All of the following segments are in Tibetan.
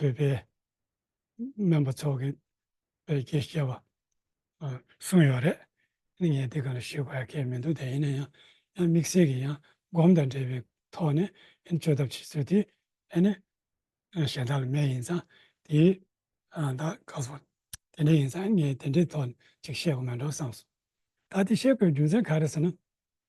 བོད་པའི་སྨན་པ་ཚོ་གི་བེད་སྐྱེད་བྱས་པ་གསུངས་ཡོད་རེད། ནི་ངས་དེ་ག་ལ་ཞུས་པ་ཡ་གལ་མི་འདུག་དེ་ཡིན་ན་ཡང་ཡང་དམིགས་བསལ་གྱི་ཡང་སྒོམ་དང་འབྲེལ་བའི་ཐོག་ནས་ཨེ་ནི་བཅོས་ཐབས་བྱེད་ཚུལ་དེ་ཨེ་ནི་གཞན་དག་ལ་མེད་ཡིན་ཙང་དེའི་ད་ག་སོང་དེ་འདྲ་ཡིན་ཙང་ངས་དེ་འདྲའི་ཐོག་ཅིག་བཤད་དགོས་མེད་འགྲོ་བསམ་སོང། ད་དེ་བཤད་དགོས་རྒྱུ་མཚན་ག་རེ་ཟེར་ན།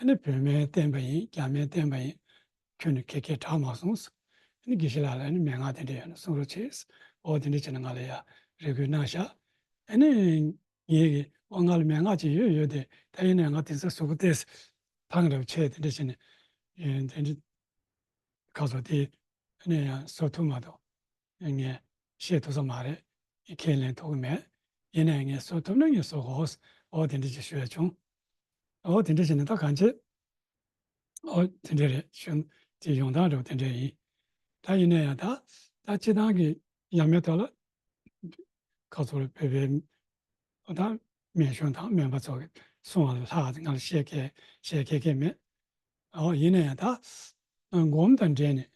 ཨ་ནི་བོད་སྨན་བསྟེན་པ་ཡིན་རྒྱ་སྨན་བསྟེན་པ་ཡིན། ཁྱོད་ནི་ཁེ་ཁེ་གྲགས་མ་སོང། ཨ་ནི་དགེ་བཤེས་ལགས་ལ་ཨ་ནི་མན་ངག་དེ་འདྲས་ཡོད་ན་གསུང་རོགས་བྱས། འོ་དེ་འདྲས་བྱས་ན་ང་ལ་ཡག་རེ་གུས་གནང་བཞག། ཨ་ནི། ངས་ཀི་འོ་ང་ལ་མན་ངག་ཅིག་ཡོད་ཡོད་དེ་ད་ཡིན་ན་ང་དེ་ཚོའི་ཟུག་གུ་བལྟས། ཐང་རེ་བ་ཆད་དེ་འདྲས་བྱས་ནས། དེ་འདྲས། ཁ་ཟོ་དེ། ཨ་ནི་ཡང་ཟོ་ཐུབ་མ་གཏོགས། ངས་བཤད་ཐུབ་ས་མ་རེད། ཁས་ལེན་ཐུབ་ཀྱི་མེད། ཡིན་ནའི་ངས་བཟོ་ཐུབ་ན་ངས་བཟོ་གོ། འོ་དེ་འདྲས་ཅིག་ཞུ་ཡ་བྱུང། འོ་དེ་འདྲས་ཞེས་ནི་ད་གང་བྱེད། འོ་དེ་འདྲས་རེད་ཞུ། དེ་ཡོང་སྟངས་རེད་བ་དེ་འདྲས་ཡིན། ད་ཡིན་ནའི་ཡང་ད། ད་སྤྱི་བཏང་གི་ཡ་མེད་ཐོག་ལ། ཁ་ཚུར་ལ་བོད་པའི། འོ་ད། མེན་གཞུང་དང་མེན་པ་ཚོ་གི་གསུང་ལ་ལྷག་ང་ལ་བཤད་ཁས་བཤད་ཁས་ཁས་མེད། ཨོ་ཡིན་ན་ཡང་དག་སྒོམ་དང་འབྲེལ་ནས་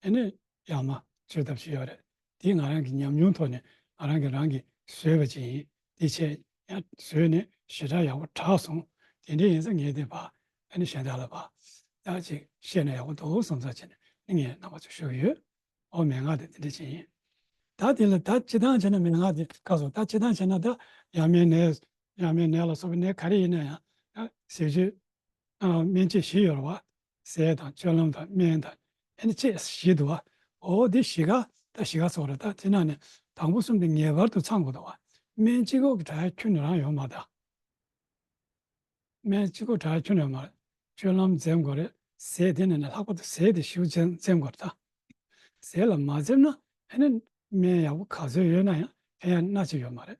དེ་ནི་ཡག་མ་བྱེད་ཐབས་ཤིག་ཡོད་རེད་དེ་ང་རང་གི་ཉམས་མྱོང་ཐོག་ནས་ང་རང་གི་རང་གི་བཟོས་པ་ཅིག་ཡིན་དེ་ཆེས་ཡང་བཟོས་ནས་ཞེ་དྲག་ཡག་པོ་གྲགས་སོང་དེ་འདྲའི་ཡིན་ས་ངས་དེ་བག་དེ་ནི་གཞན་དག་ལ་བག་ཡག་ཅིག་བཤད་ན་ཡག་པོ་འདུག་བསམ་ཚར་བྱས་ནས་ནི་ངས་རྣམ་པ་ཚོ་ཞུ་གི་ཡོད་ཨོ་མན་ངག་དེ་དེ་འདྲའི་ཅིག་ཡིན་ད་དེ་ལ་ད་སྤྱི་སྟངས་བྱས་ན་མན་ངག་དེ་ཁ་སོང་ད་སྤྱི་སྟངས་བྱས་ན་ད་ཡ་མན་ནས་ཡ་མན་ནས་ལ་སོགས་པའི་ནས་ག་རེ་ཡིན་ན་ཡང་ཟེར་རྒྱུ། སྨན་དཔྱད་བཞི་ཡོད་ལ། ཟས་དང་སྤྱོད་ལམ་དང་སྨན་དང་ཨེ་ནི་དཔྱད་བཞི་དུ་བ། འོ་དེ་བཞི་ག་ད་བཞི་ག་སོགས་རེད་ད་དེ་རྣམས་ནི་དང་པོ་གསུམ་དུ་ངེས་པར་དུ་ཚང་དགོས་ད་བ། སྨན་གཅིག་གོ་གྲྭའི་ཁྱོན་ནས་རང་ཡོང་མ་ད། སྨན་གཅིག་གོ་གྲྭའི་ཁྱོན་ནས་ཡོང་མ་རེད། སྤྱོད་ལམ་འཛེམ་དགོས་རེད། ཟས་དེ་ནས་ནི་ལྷག་པར་དུ་ཟས་དེ་བཞི་བོ་འཛེམ་དགོས་རེད་ད། ཟས་ལ་མ་འཛེམ་ན་ཨེ་ནི་སྨན་ཡག་པོ་ག་ཚོད་ཡོད་ན་ཡང་ཕན་ཡག་སྣ་གཅིག་ཡོད་མ་རེད།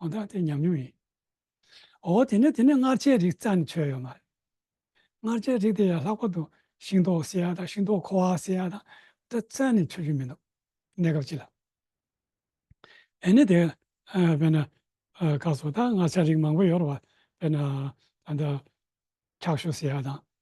གང་ལྟར་དེ་ཉམས་མྱོང་ཡིན། འོ་དེ་ནས་དེ་ནས་མངར་ཆའི་རིགས་རྩ་ནས་ཆོད་ཡོད་མ་རེད། མངར་ཆའི་རིགས་དེ་ཡང་ལྷག་པར་དུ་ཤིང་ཏོག་བསྲེས་ཡག་དང་ཤིང་ཏོག་ཁོ་བ་བསྲེས་ཡག་དང་འདྲ་རྩ་ནས་ཆོད་རྒྱུ་མི་འདུག་གནས་སྐབས་སྤྱི་ལ། དེ་ནས་དེ་བས་ན་སྐབས་སུ་ད་མངར་ཆ་རིགས་མང་པོ་ཡོད་རེད་བ། དཔེར་ན་ད་ལྟ་ཁྲག་ཤོ་བསྲེས་ཡག་དང་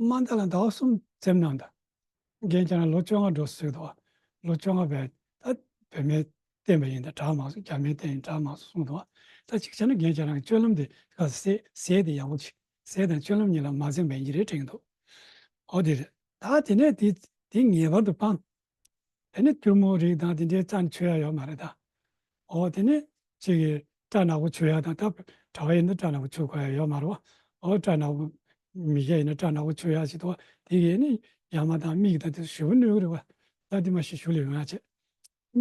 དམའ་མཐའ་ལ་ཟླ་བ་གསུམ་འཛེམ་གནང་དང། རྒན་ཅག་ལ་ལོ་བཅོ་ལྔ་འགྲོ་ཟེར་གི་འདུག་བ། ལོ་བཅོ་ལྔ་བས་ད་བོད་མའི་བསྟན་པ་ཡིན་ད་གྲགས་མང་སོང་རྒྱ་མའི་བསྟན་ཡིན་གྲགས་མང་སོང་གསུངས་འདུག་བ། ད་ཅིག་ཆ་ན་རྒན་ཅག་རང་གི་སྤྱོད་ལམ་དེ་ག་ཟེ་ཟེ་ཟེ་དེ་ཡག་པོ་ཅིག་ཟེ་དང་སྤྱོད་ལམ་གཉིས་ལ་མ་འཛེམ་པ་ཡིན་གྱི་རེད་དྲན་གྱི་འདུག་ཨོ་དེ་རེད། ད་དེ་ནས་དེ་དེ་ངེས་པར་དུ་སྤང། དེ་ནི་ཐུན་མོང་རིགས་དང་དེ་འདྲའི་རྩ་ནི་ཆོད་ཡ་ཡོད་མ་རེད་ད། འོ་དེ་ནི་གཅིག་གི་སྐྲ་ནག་པོ་ཆོད་ཡ་དང་ད་གྲྭ་བ་ཡིན་ན་སྐྲ་ནག་པོ་ཆོད་དགོས་ཡ་ཡོད་མ་རེད་བ། འོ་སྐྲ་ནག་པོ་མི་སྐྱ་ཡིན་ན་སྐྲ་ནག་པོ་ཆོད་ཡ་བྱེད་དུ་བ་དེ་གས་ནི་ཡ་མ་དང་མིག་དང་དེ་ཞུ་བ་ནུས་གི་རེད་བ། ད་དེ་མ་ཤི་ཞུ་ལས་ཡོང་ཡ་བྱེད།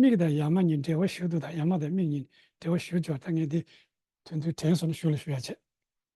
མིག་དང་ཡ་མ་གཉིས་འབྲེལ་བ་ཞུ་དུ་ད་ཡ་མ་དང་མིག་གཉིས་འབྲེལ་བ་ཞུ་སྦྱོར་ད་ངས་དེ་དོན་དུ་དྲན་སོང་ན་ཞུ་ལ་ཞུ་ཡ་བྱེད།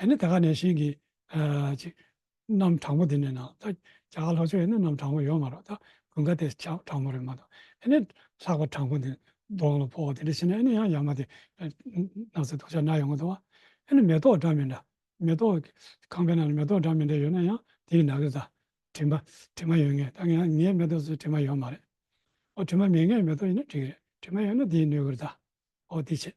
ཨེ་ནི་ད་ག་ནས་ཤེས་གི། ཅིག། གནམ་དྲང་པོ་དེ་ནས་ན་ད། རྒྱ་གར་ལྷོ་ཕྱོགས་ཡིན་ན་གནམ་དྲང་པོ་ཡོད་མ་རོག་ད། དགུན་ཁ་དེ་ཆ་དྲང་པོ་རེད་མ་ཏོག་ཨེ་ནི། ལྷག་པ་དྲང་པོ་འདི། གདོང་ལ་ཕོག་དེ་འདྲ་བྱེད་ན་ཨེ་ནི་ཡང་ཡ་མ་དེ། ནགས་ཚལ་དུག་ཆ་ན་ཡོང་གི་འདུག་ཨ། ཨེ་ནི་མེ་ཏོག་འདྲ་མི་འདྲ། མེ་ཏོག། ཁང་པའི་ནང་ལ་མེ་ཏོག་འདྲ་མི་འདྲ་ཡོད་ན་ཡང་དེ་ཡི་ནང་གི་ད། དྲི་མ། དྲི་མ་ཡོད་ངེས་ད་ངའི་མེ་ཏོག་ཚོའི་དྲི་མ་ཡོད་མ་རེད། ཨོ་དྲི་མ་མེད་ངའི་མེ་ཏོག་ཡིན་ན་འགྲིག་རེད་དྲི་མ་ཡོད་ན་དེ་ཡི་སྣོད་གུར་ད། ཨོ་དེ་ཆེད།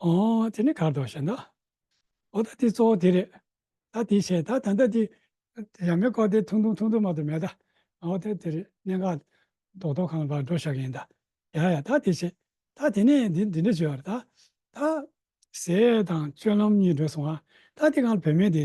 ཨོ། དེ་ནི་གར་དོ་ཞེ་ན། ཨོ་ད་དེ་གཙོ་བོ་དེ་རེད། ད་དེ་བྱས་ད་ད་ལྟ་དེ། ཡང་མེ་ཀོ་དེ་ཐུང་ཐུང་ཐུང་ཐུང་མ་ཏོ་མེད་ད། ཨོ་ད་དེ་རེད་གནས་འགག། རྡོག་རྡོག་གང་ལ་བར་འགྲོ་ཞག་ཡིན་ད། ཡ་ཡ་ད་དེ་བྱས། ད་དེ་ནས་འདི་འདི་འདྲ་བྱོས་བར་ད། ད། ཟས་དང་སྤྱོད་ལམ་གཉིས་འདྲོས་སོང་ང། ད་དེ་གང་ལ་བུད་མེད་དེ།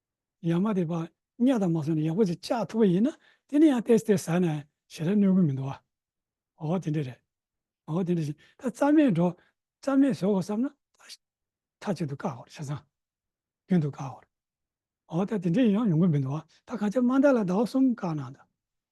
ཡང་མ་དེ་པ་སྙ་དང་མ་སོགས་ནས་ཡག་པོ་ཞིག་བཅག་ཐུབ་པ་ཡིན་ན་དེ་ནས་ཡང་ཏེས་ཏེས་ཟ་ན་ཞེ་དྲག་གནོད་གི་མི་འདུག་ཨ། འོ་དེ་འདྲ་རེད། འོ་དེ་འདྲ་ཞིག་ད་རྩ་མེད་འགྲོ་རྩ་མེད་བཟོ་དགོས་བསམ་ན་ད་མཐའ་གཅིག་ཏུ་བཀག་གོ་ཆ་ཚང་རྒྱུན་དུ་བཀག་གོ། འོ་ད་དེ་འདྲ་ཡང་ཡོང་གི་མི་འདུག་ད་གང་ཆ་མ་འདའ་ལ་ཟླ་བ་གསུམ་བཀག་གནང་དང་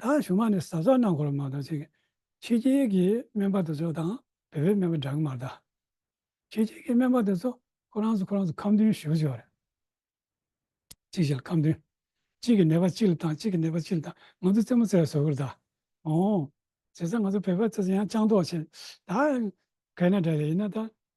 ད་བཞུགས་མ་ནས་ཟབ་ས་གནང་དགོས་ལ་མ་གཏོགས་ཅིག་ཕྱི་རྒྱལ་གྱི་སྨན་པ་དེ་ཚོ་དང་བོད་པའི་སྨན་པ་འདྲ་གི་མ་གཏགས། ཕྱི་རྒྱལ་གྱི་སྨན་པ་དེ་ཚོ་ཁོ་རང་ཚོ་ཁོ་རང་ཚོ་ཁམས་བདུན་བཞུགས་ཆོག་རེད། ཅིག་བྱས་ལ་ཁམས་བདུན། གཅིག་གི་ནད་པ་གཅིག་ལ་བཏང་གཅིག་གི་ནད་པ་གཅིག་ལ་བཏང་ང་ཚོ་རྩེད་མོ་རྩེ་བ་ཟོ་གི་རེད་ད། ཨོང། བྱས་ཙང་ང་ཚོ་བོད་པ་ཚོ་ཡང་སྤྱང་ལྟོགས་ཆེ། ད། གལ་ན་འདྲ་རེད་ཡིན་ན་ད།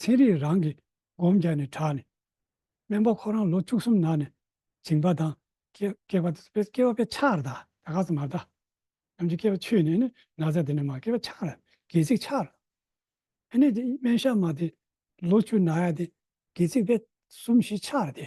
ཚན་རིག་རང་གིས་སྒོམ་རྒྱག་ནས་དྲགས་ནས། སྨན་པ་ཁོ་རང་ལོ་བཅུ་གསུམ་ནང་ནས་བྱིང་བ་དང། སྐྱེ་བ་དེ་སྐྱེ་བ་པའི་ཆགས་ར་དང་ག་ཚོད་མ་བལྟ། ནམ་འཆི་སྐྱེ་བ་ཆུད་ནས་ནི་ན་བཟའ་དེ་ནི་མ་སྐྱེ་བ་ཆགས་ར་སྒལ་ཚིགས་ཆགས་ར། ཨ་ནི་སྨན་ཞབས་མ་དེ་ལོ་བཅུ་ན་ཡ་དེ་སྒལ་ཚིགས་པས་གསུམ་བཞི་ཆགས་ར་དེ།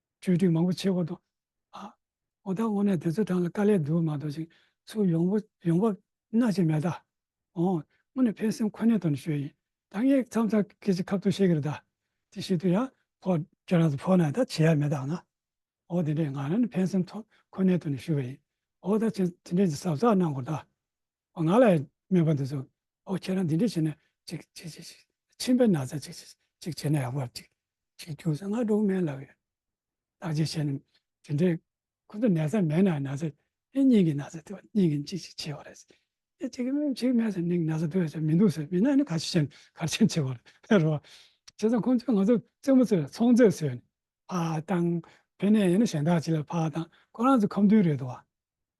བཅོས་སྒྲིག་མང་པོ་བྱེད་དགོས་དང། ཨོ་ད་དངོས་གནས་དེ་ཚོའི་གྲངས་ལ་དཀའ་ལས་འདུག་མ་གཏོགས་ཅིག་ཚུགས་ཡོང་བ་ཡོང་བབ་སྣ་གཅིག་མེད་ད། དངོས་གནས་ཕན་སེམས་ཁོ་ནའི་དོན་ཤོས་ཡིན་ད་ངས་མཚམས་མཚམས་ཀྱི་ཅིག་ཁབ་ཏུ་བཤད་གི་རེད་ད། དེ་ཤི་དུས་ཡང་ཕོ་ཁྱེད་རང་ཚོ་ཕོ་ནའི་ད་བྱེད་ཡ་མེད་ད་ང། ཨོ་དེ་འདྲས་ང་རང་ནི་ཕན་སེམས་ཐོག་ཁོ་ནའི་དོན་ཤོས་ཡིན་ཨོ་ད་ཁྱེད་དེ་འདྲས་ཀྱི་ཟབ་ཚགས་གནང་དགོས་ད། ཨོ་ང་ལ་སྨྲས་པ་འདི་ཟོ། ཨོ་ཁྱེད་རང་འདི་འདྲ་བྱས་ན་ཅིག། ཅིག་ཅིག་ཅིག། མཆིན་པའི་ན་ཚ་ཅིག། ཅིག་བྱས་ན་ཡག་པར་ཅིག། ཅིག་རྒྱུགས་སོང་ང་འབྲོག་སྨན་ལགས་ཡིན། ལགས་ཅིག་བྱས་ན་དེ་འདྲའི། ཁོ་ཚོ་ནད་ཚ་མེད་ན་ན་ཚ། ཨེ་སྙིང་གི་ན་ཚ་དེ་བ་སྙིང་གི་ཅིག་ཅིག་བྱས་པ་རེད། ཨེ་ཅིག་སྨན་ཅིག་སྨན་སོང་ནིང་ན་ཚ་དེ་བས་ཀྱང་མི་འདུག་ཟེར་མིན་ན་ནི་ག་ཅིག་བྱས་ན་གར་ཆེན་བྱས་པ་རེད། ཧེ་རོ། བྱས་ཙང་ཁོ་ཚོས་ང་ཚོ་བཙན་པོ་ཚོས་ལ་ཚོང་རྫས་ཟོས་ནས། ཕ་བཏང། ཕན་ནས་ཡིན་ན་གཞན་དག་ཅིག་ལ་ཕ་བཏང། ཁོ་རང་ཚོ་ཁམས་མདུན་རེད་དོ།